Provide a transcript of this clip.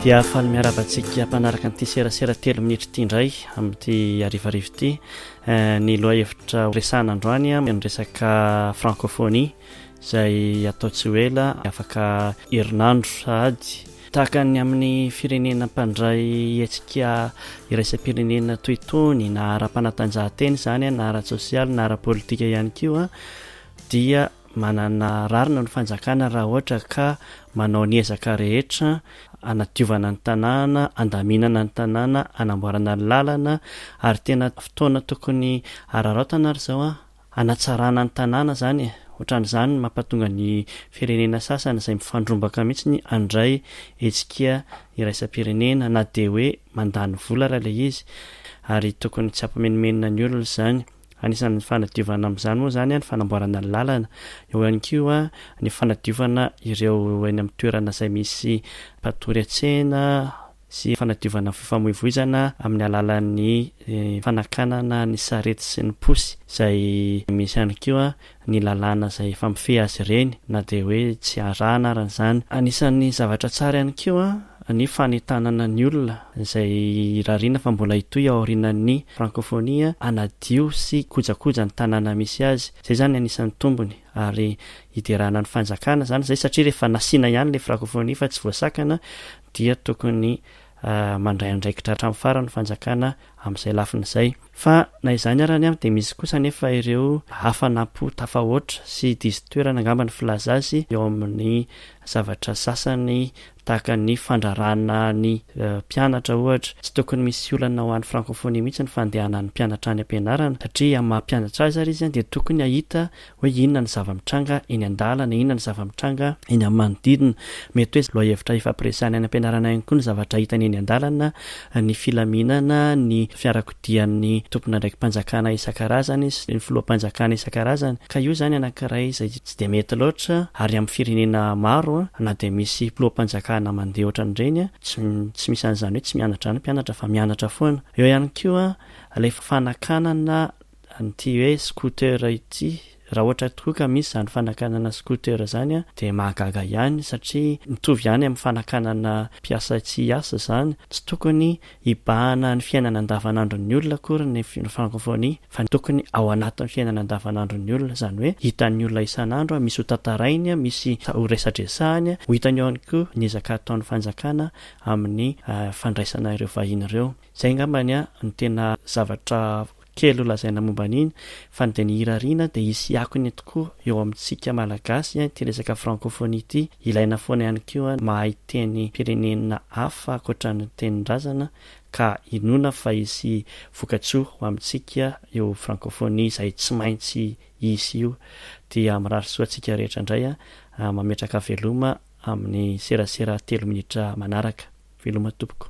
dia afaly miaraba antsika mpanaraka an'ity serasera telo minitra ity indray amin'ity arivarivo ity eh, ny loha hevitra horesahana androany a ny resaka francophonie izay atao tsy ho ela afaka herinandro sahady tahaka ny amin'ny firenena mpandray hetsika iraisam-pirenena toy itony na ara-panatanjahantena izany a na ara-tsosialy na ara-politika ihany ko a dia Manana rarina ny fanjakana raha ohatra ka manao ny ezaka rehetra hanadiovana ny tanàna, handaminana ny tanàna, hanamboarana ny lalana ary tena fotoana tokony hararaotana ary izao an, hanatsarana ny tanàna izany e! Ohatran'izany no mampatonga ny firenena sasany izay mifandrombaka mihitsy handray hetsika iraisam-pirenena na dia hoe mandany vola ary ilay izy ary tokony tsy hampimenomenona ny olona izany. Anisan'ny fanadiovana amin'izany moa izany ny fanamboarana ny lalana. Eo ihany koa ny fanadiovana ireo eny amin'ny toerana izay misy mpatory an-tsena sy fanadiovana ny fifamoivoizana amin'ny alalan'ny fanakanana ny sarety sy ny posy izay misy ihany koa ny lalàna izay efa mifehy azy ireny na dia hoe tsy arahana arany izany. Anisan'ny zavatra tsara ihany koa ny fanentanana ny olona izay irariana fa mbola hitohy aorianan'ny Frankôfônia hanadio sy hikojakoja ny tanàna misy azy. Izay izany anisan'ny tombony ary hiderana ny fanjakana izany izay satria rehefa nasiana ihany ilay Frankôfônia fa tsy voasakana dia tokony mandray andraikitra hatramin'ny farany ny fanjakana amin'izay lafiny izay. Fa na izany ary anie dia misy kosa anefa ireo hafanam-po tafahoatra sy diso toerana angamba ny filaza azy eo amin'ny zavatra sasany tahaka ny fandraràna ny mpianatra ohatra. Tsy tokony misy olana ho an'ny frankofonia mihitsy ny fandehanan'ny mpianatra any am-pianarana satria amin'ny maha mpianatra azy ary izy dia tokony hahita hoe inona ny zava-mitranga eny an-dalana, inona ny zava-mitranga eny amin'ny manodidina. Mety hoe lohahevitra ifampiresahana any am-pianarana ihany koa ny zavatra hitany eny an-dalana, ny filaminana, ny fiarakodian'ny tompon'andraiki-panjakana isan-karazany sy ny filoham-panjakana isan-karazany. Ka io izany anankiray izay tsy dia mety loatra ary amin'ny firenena maro na dia misy mpiloham-panjakana mandeha ohatran'ireny, tsy tsy misy an'izany hoe tsy mianatra izany ny mpianatra fa mianatra foana. Eo ihany koa ilay fanakanana an'ity hoe scooter ity, raha ohatra tokoa ka misy izany fanakanana scooter izany dia mahagaga ihany satria mitovy ihany amin'ny fanakanana mpiasa tsy hiasa izany, tsy tokony hibahana ny fiainana andavanandron'ny olona akory ny francophonie fa tokony ao anatin'ny fiainana andavanandron'ny olona, izany hoe hitan'ny olona isan'andro, misy ho tantarainy, misy ho resadresahany, ho hitany ihany koa ny ezaka ataon'ny fanjakana amin'ny fandraisana ireo vahiny ireo. Izay angambany no tena zavatra Kely ho lazaina momba an'iny fa ny dia ny hirariana dia hisy akony tokoa eo amintsika Malagasy ity resaka francophonie ity, ilaina foana ihany koa ny mahay tenim-pirenena hafa ankoatra ny tenin-drazana ka inoana fa hisy vokatsoa ho amintsika io francophonie izay tsy maintsy hisy io. Dia mirary soa antsika rehetra indray an! Mametraka veloma amin'ny serasera telo minitra manaraka. Veloma tompoko.